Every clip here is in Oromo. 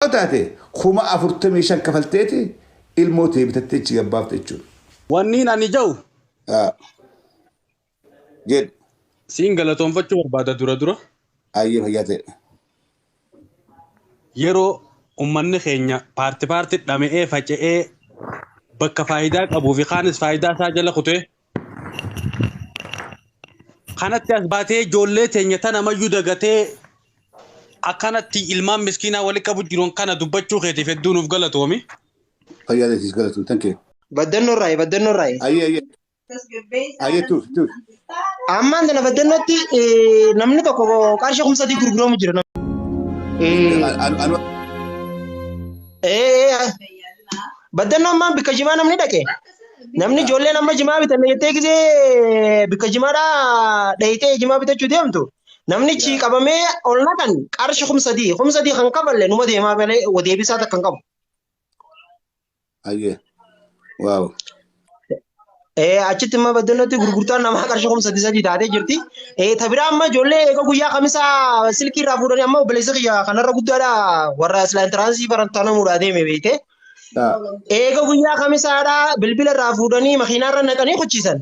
Yoo taate 45,000 kafalteeti ilmoo tee bitattee achi gabbaafte jechuudha. Wanniin ani ja'u Haa. Jedhu. siin galatoonfachuu barbaada dura dura. Ayyee fayyaa ta'e. Yeroo ummanni keenya paarti paarti dhama'ee faca'ee bakka faayidaa qabuu fi kaanis faayidaa isaa jala kutee Kanatti as baatee ijoollee teenya tana mayyuu dagatee akkanatti ilmaan miskiinaa wali qabu jiruun kana dubbachuu keetiif hedduu nuuf galatoomi. Fayyaa teetiis galatoom. Thank you. Baddannoo irraayi baddannoo irraayi. Ayyee ayyee. Ayyee tuuf tuuf. Ammaan tana baddannootti eh, namni tokko qarshii kuma sadii gurguramu jira. nam- Eh, Anu- anu- eh, eh, baddannoo ammaan bakka jimaa namni dhaqe. Namni ijoolleen amma jimaa bitanne jettee gisee bikka jimaadhaa dhayitee jimaa bitachuu deemtu. Namnichi qabamee ol naqan qarshi kum sadii. Kum sadii kan kafalle numa deemaa malee deebisaa takka hin qabu. Ayyee. Waaw. Eh, achitti immoo baddalatti gurgurtaan namaa qarshii kuma sadii sadii taatee jirti. Eh, ta biraa amma ijoollee egaa guyyaa kamisaa silkii irraa fuudhanii amma obboleessa kiyya kanarra guddaadha warra silaa intiraansii barattaa namuudhaa deeme beekte. Dha. Eega guyyaa kamisaadhaa bilbila irraa fuudhanii makiinaa irra naqanii kuchiisan.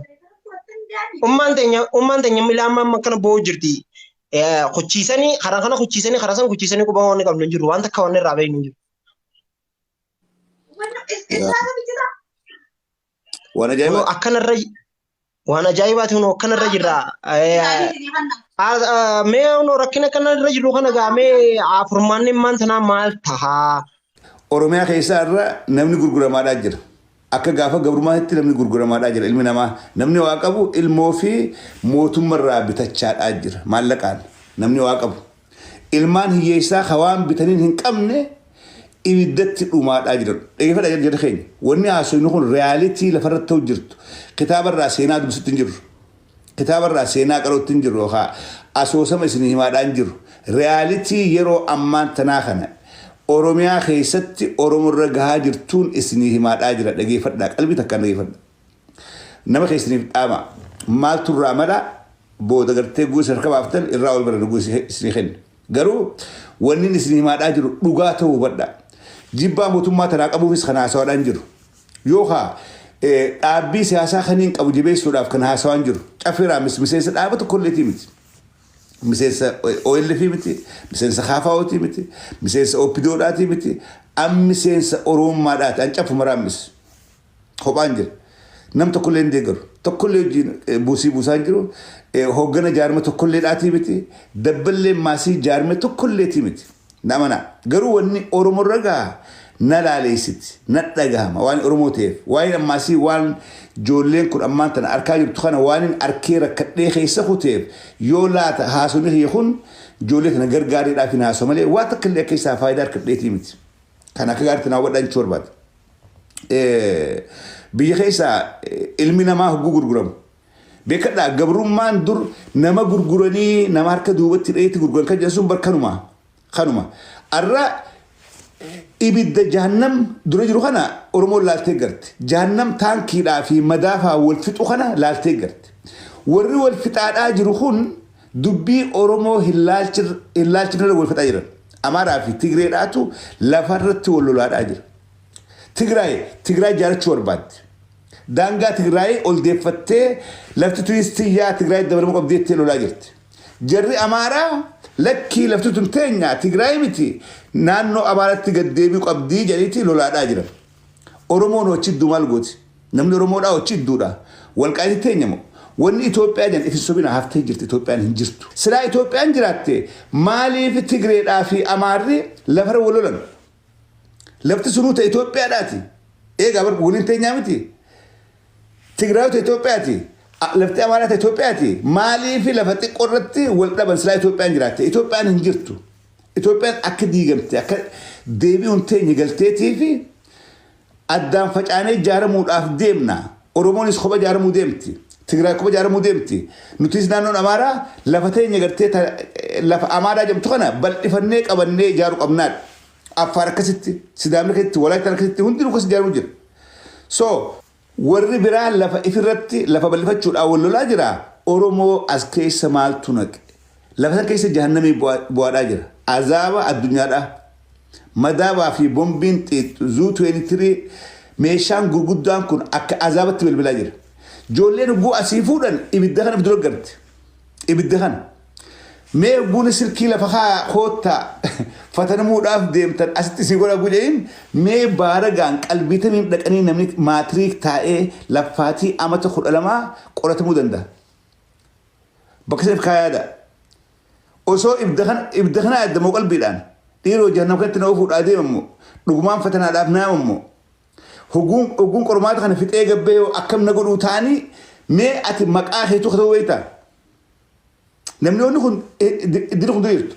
Ummaan teenya ummaan teenya ilaa amma amma akkana boo'u jirti. Eh, Kuchiisanii karaa kana kuchiisanii karaa sana kuchiisanii quba waan qabnu hin jiru waan takka waan irraa beeknu hin jiru. Yaa. Waan Kunoo ajaa'ibaa. akkanarra waan ajaa'ibaati kunoo akkanarra jirra. Eh, ah, ah, Mee kunoo rakkina akkanarra jirru kana gaa mee ah, furmaanni immaan tanaa maal tahaa? Oromiyaa keessaa irra namni gurguramaadhaa jira. Akka gaafa gabrummaatti namni gurguramaadhaa jira ilmi namaa. Namni waa qabu ilmoo fi mootummarraa bitachaadhaa jira maallaqaan. Namni waa qabu Ilmaan hiyyeessaa ka waan bitaniin hin qabne ibiddatti dhumaadhaa jiran. Dhaggeeffadha jedha keenya. Wanni haasofnu kun realitii lafarratti ta'u jirtu. Kitaaba irraa seenaa dubbisutti hin jirru. Kitaaba irraa seenaa qarootti hin jirru yookaan asoosama isin himaadhaa hin jirru. Realitii yeroo ammaan tanaa kana Oromiyaa keessatti Oromo irra gahaa jirtuun isinii himaadhaa jira. Dhaggeeffadhaa. Qalbii takkaan dhaggeeffadhaa. Nama keessaniif dhaama. Maaltu irraa mala booda gartee guusa harka baaftan irraa wal barana guusi isinii kenna. Garuu wannin isin himaadhaa jiru dhugaa ta'uu hubadha. Jibbaa mootummaa tanaa qabuufis kan haasawaadhaan jiru. Yookaa dhaabbii siyaasaa kaniin qabu jabeessuudhaaf kan haasawaan jiru. Caffeeraa miseensa dhaaba tokkolleetii miti. Miseensa OLF miti, miseensa KFO'tii miti, miseensa OPDO'dhaatii miti, an miseensa Oromummaadhaati, an caffumaraan mis. kophaan jira. Nam tokkollee hin deeggaru. Tokkollee hojiin eh, buusii buusaa hin jiru. Eh, Hooggana jaarma tokkollee dhaatii miti. Dabballee maasii jaarma tokkolleetii miti. Na amanaa. Garuu wanni Oromoo irra gaha na laaleessiti. Na dhagahama waan Oromoo ta'eef. Waan ammaasii waan joolleen kun ammaan tana arkaa jirtu kana waan hin arkee rakkadhee keessa kuteef yoo laata haasofni kiyya kun joollee tana gargaareedhaaf hin haasoo malee waa takka illee akka isaa faayidaa harkadheetii miti. Kan akka gaariitti naa hubadhaa jechuu barbaada. eh, biyya keessa eh, ilmi namaa hogguu gurguramu. Beekadhaa gabrummaan dur nama gurguranii nama harka duubatti dheetti gurguran kan jedhan sun bar kanuma. Kanuma. Arra ibidda jahannam dura jiru kana Oromoon laaltee garti. Jahannam taankiidhaa fi madaafaa wal fixu kana laaltee garti. Warri wal fixaadhaa jiru kun Dubbii Oromoo hin laalchinerra wal fixaa jiran. Amaaraa fi Tigreedhaatu lafarratti wal lolaadhaa jira. Tigraay Tigraay jaarachuu barbaaddi. Daangaa Tigraay ol deeffattee lafti tunis tiyyaa Tigraayitti dabalamuu qabdi jettee lolaa jirti. Jarri Amaaraa lakkii lafti tun teenya Tigraay miti naannoo Amaaraatti gad deebi'uu qabdi jedhaniiti lolaadhaa jiran. Oromoon hoo achi jidduu maal gooti? Namni oromoo dhaa ochi idduu dhaa. Walqaayiti teenya moo. Wanni Ethiopia jan if hin sobina haftee jirti Ethiopian hin jirtu. Silaa Ethiopian jiraatte maaliif Tigree dhaa fi Amaarri lafara wal lolan? Lafti sunuu ta Ethiopiaa dhaati. Eegaa bar waliin teenyaa miti. Tigraayu ta Ethiopiaati. A- Lafti Amaaraa ta Ethiopiaati. Maaliif lafa xiqqoo irratti wal dhaban silaa Ethiopian jiraatte? Ethiopian hin jirtu. Ethiopian akka diigamte akka deebi'uun teenya galteetii fi Addaan facaanee ijaaramuudhaaf deemna. Oromoonis kopha ijaaramuu deemti. Tigraay kopha ijaaramuu deemti. Nutis naannoon Amaaraa lafa teenya gartee ta lafa Amaaraa jedhamtu kana bal'ifannee qabannee ijaaruu qabnaadha. Affaar akkasitti, Sidaamni akkasitti, Walaayittaan akkasitti hundinuu akkas ijaaruu jira. So warri biraa lafa ifirratti lafa bal'ifachuudhaan wal lolaa jira. Oromoo as keessa maaltu naqe? Lafa san keessa jahannamii bu'aa bu'aadhaa jira. Azaaba addunyaadhaa. Madaabaa fi bombiin xiix Zuu 23 meeshaan gurguddaan kun akka azaabatti bilbilaa jira. Ijoolleen hogguu asii fuudhan ibidda kana dura garti. Ibidda kana. Mee hogguun silkii lafa kaa koottaa fatanamuudhaaf deemtan asitti sii godha gujayin mee baaragaan qalbiitamiin dhaqanii namni maatiriik taa'ee laffaatii amata kudha lamaa qoratamuu danda'a. Bakka saniif kaa yaada. Osoo ibda kana ibda kana yaadda moo qalbiidhaan dhiiroo jahannam kanatti na ofuudhaa deema moo dhugumaan fatanaadhaaf naama moo hoguun hoguun qormaata kana fixee gabbee hoo akkam na godhuu taanii mee ati maqaa keetuu katuu beektaa namni onni kun iddina kun diriirtu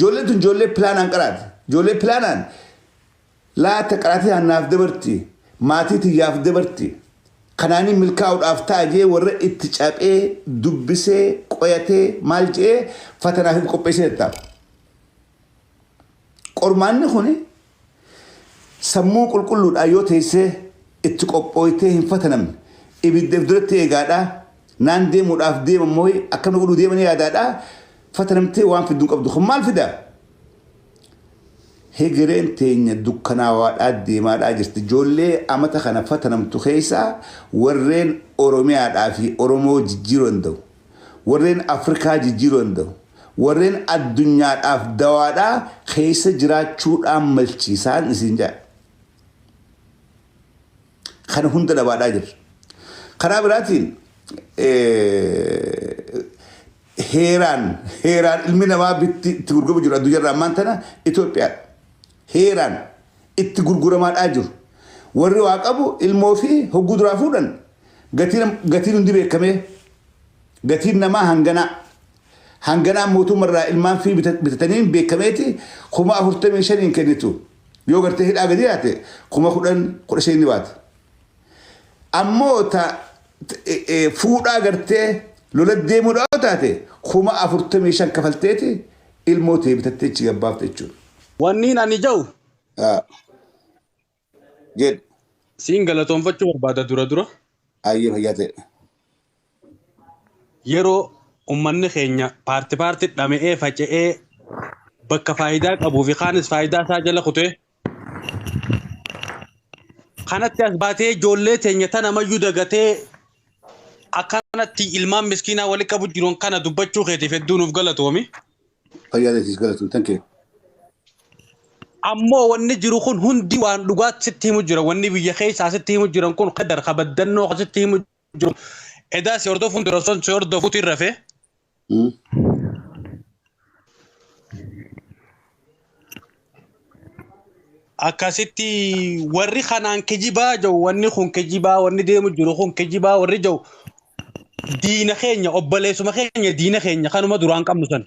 joolleen tun joollee pilaanaan qaraati joollee pilaanaan Laata qaraatiyaan naaf dabarti, maatii tiyyaaf dabarti, kanaaniin milkaa'uudhaaf ta'a je'ee warra itti caphee, dubbisee, qoyatee, maal je'ee fatanaaf if qopheessee tattaafa. Qormaanni kuni sammuu qulqulluudhaan yoo teessee itti qophooytee hin fatanamne, ibidda if duratti eegaadhaa, naan deemuudhaaf deeman mooyi, akkana godhuu deemanii yaadaadhaa, fatanamtee waan fiddu hin qabdu. Kun maal fida? Hegereen teenya dukkanaawaadhaa deemaadhaa jirti. Ijoollee amata kana fatanamtu keessaa warreen Oromiyaadhaa fi Oromoo jijjiiruu danda'u, warreen Afrikaa jijjiiruu danda'u, warreen addunyaadhaaf dawaadhaa keessa jiraachuudhaan malchi isaan isin jedha. Kana hunda dhabaadhaa jirra. Karaa biraatiin heeraan heeraan ilmi namaa bitti itti gurguramu jiru addunyaa irraa ammaan tana Itoophiyaadha. Heeraan itti gurguramaadhaa jiru. Warri waa qabu ilmoo fi hogguu duraa fuudhan gatiin gatiin hundi beekamee gatiin namaa hanganaa hanganaa mootummaa irraa ilmaan fi bita- bitatanii beekameeti kuma afurtamii shaniin kennitu yoo gartee hidhaa gadi yaate kuma kudhan kudha shaniin ni baata. Ammoo ta fuudhaa gartee lola deemuudha yoo taate kuma afurtamii shan kafalteeti ilmoo tee bitattee achi gabbaafte jechuudha. Wanniin ani ja'u Haa. Jedhu. siin galatoonfachuu barbaada dura dura. Ayyee fayyaa ta'e. Yeroo ummanni keenya paarti paarti dhama'ee faca'ee bakka faayidaa qabuu fi kaanis faayidaa isaa jala kutee Kanatti as baatee ijoollee teenya tana mayyuu dagatee akkanatti ilmaan miskiinaa walitti qabu jiruun kana dubbachuu keetiif hedduu nuuf galatoomi. Fayyaa teessiis galatoom tan kee. Ammoo wanni jiru kun hundi waan dhugaatti sitti himu jira. Wanni biyya keessaa sitti himu jiran kun kadar kabaddannoo kan sitti himu jiru. Edaa si hordofuun dura osoo si hordofuutu irra fee. Akkasitti warri kanaan kijibaa jiru wanni kun kijibaa wanni deemu jiru kun kijibaa warri jiru diina keenya obboleessuma keenya diina keenya kanuma duraan qabnu sana.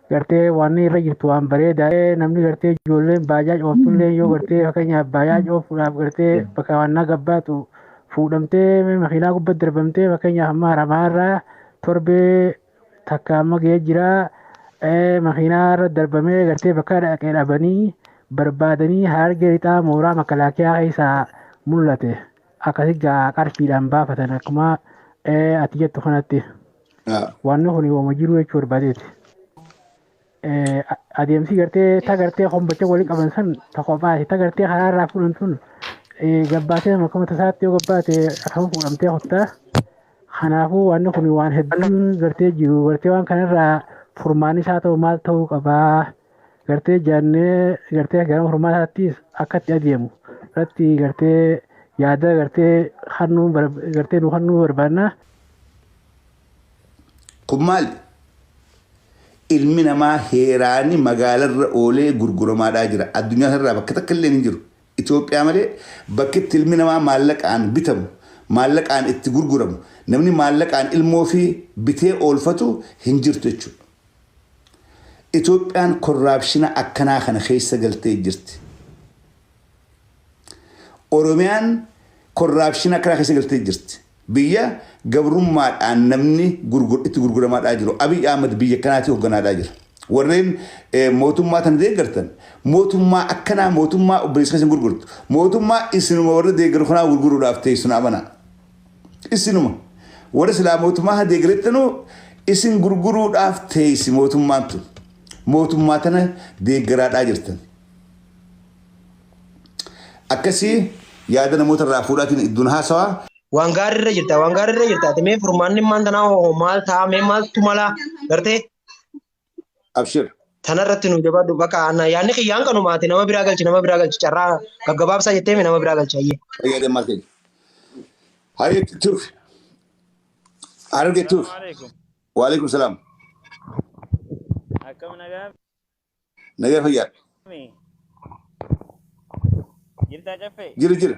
gartee waan irra jirtu waan bareeda namni gartee ijoolleen baajaaj ooftullee yoo gartee fakkeenyaaf baajaaj oofuudhaaf gartee bakka waan na gabbaatu fuudhamtee makiinaa gubbaa darbamtee fakkeenyaaf amma haramaa irraa torbee takka amma ga'ee jira makiinaa irra darbamee gartee bakka dhaqee dhabanii barbaadanii hargee lixaa mooraa makalaakiyaa keessaa mul'ate akkasii gaa qarshiidhaan baafatan akkuma ati jettu kanatti. Haa. Wanni kun yooma jiru jechuu barbaadeeti. Eh, a- Adeemsi gartee ta gartee hombacha waliin qaban san ta kophaati ta gartee karaa irraa fuudhan sun eh, gabbaatee akkuma tasaatti yoo gabbaate akkama fuudhamtee kottaa. Kanaafuu wanni kun waan hedduun gartee jiru gartee waan kanarraa furmaanni isaa ta'u maal ta'uu qabaa. gartee jaannee gartee gara furmaataattis akka itti adeemu irratti gartee yaada gartee hannuu gartee nu hannuu barbaannaa. Kun maali? Ilmi namaa heeraan magaalarra oolee gurguramaadhaa jira. Addunyaa kanarraa bakka takka illee hin jiru. Itoophiyaa malee bakki itti ilmi namaa maallaqaan bitamu, maallaqaan itti gurguramu, namni maallaqaan ilmoo fi bitee oolfatu hin jirtu jechuudha. Itoophiyaan korraapshina akkanaa kana keessa galtee jirti. Oromiyaan korraapshina akkanaa keessa galtee jirti. Biyya gabrummaadhaan namni gurgur, itti gurguramaadhaa jiru. Abiy Ahmed biyya akkanaatii hogganaadhaa jira. Warreen eh, mootummaa tana deeggartan mootummaa akkanaa mootummaa obboleessa keessa hin gurgurtu. Mootummaa isinuma warra deeggaru kanaa gurguruudhaaf teessu na amanaa. Isinuma. Warri silaa mootummaa kana deeggarettanu isin gurguruudhaaf teessi mootummaan tun. Mootummaa tana deeggaraadhaa jirtan. Akkasii yaada namoota irraa fuudhaatiin idduun haasawaa. Waan gaarii irra jirta, waan gaarii irra jirta. Ati mee furmaanni maal tanaa hoo maal ta'a mee maaltu mala gartee Abshir. Tana irratti nu jabaadhu bakka aanaa yaadni kiyyaan kanumaati nama biraa galchi nama biraa galchi carraa gaggabaabsaa jettee mi nama biraa galchi hayyee. Fayyadee maal keenya. Hayyee tuuf. Hararge tuuf. Salaamu alaikum. Waalaikum salaam. Akkam nagaa Nagaa fayyaa. mi? Jirtaa caffee? Jira jira.